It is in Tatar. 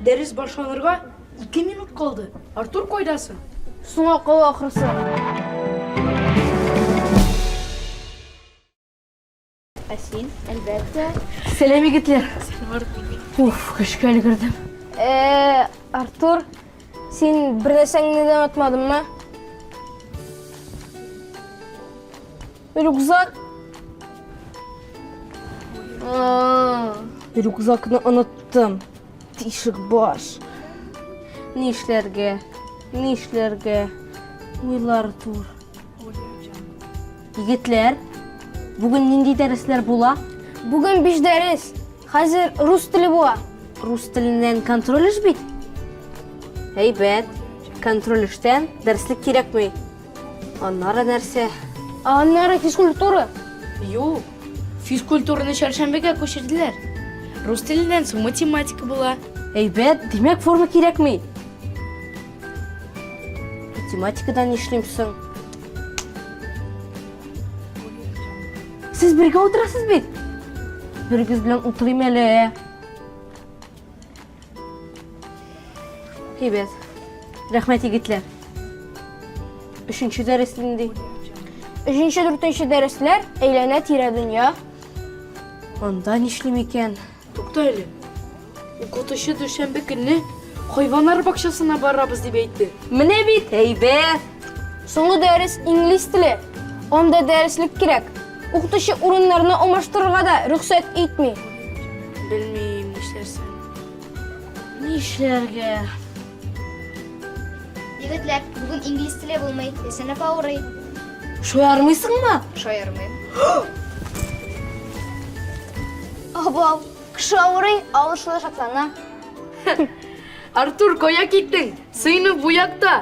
Дәрес башланырга ике минут калды. Артур кайдасың? Соң акылы ахрысы. Ә син, әлбәттә. Сәлам, егетләр. Уф, көшкә өлгердем. Э, Артур, син бер нәрсәңне дә онытмадыңмы? Рюкзак. Рюкзакны оныттым. Тишек баш. Ни эшләргә? Ни эшләргә? Уйлар тур. Егетләр, бүген нинди дәресләр була? Бүген биш дәрес. Хәзер рус теле була. Рус теленнән контроль эш бит. Әйбәт. Контроль эштән дәреслек кирәкми. Аннары нәрсә? Ә аннары физкультура. Юк. Физкультураны чәршәмбегә күчерделәр. Рус теленнән соң математика була. Әйбәт, димәк форма кирәкми. Математикадан нишлим соң? Сез бергә утырасыз бит? Бергез белән утырыйм әле. Әйбәт. Рәхмәт, егетләр. Өченче дәрес нинди? Өченче, дүртенче дәресләр әйләнә тирә дөнья. Анда нишлим икән? Тукта әле. Укытучы дүшәмбе көнне хайваннар бакчасына барабыз дип әйтте. Менә бит әйбәт. Соңгы дәрес инглиз теле. Анда дәреслек кирәк. Укытучы урыннарны алмаштырырга да рөхсәт итми. Белмим, нишләрсең? Нишләргә? Егетләр, бүген инглиз теле булмый, сыйныф авырый. Шаярмыйсыңмы? Шаярмыйм. Абау, кеше авырый, авыршылы шатлана. Артур, кая киттең? Сыйныф бу якта!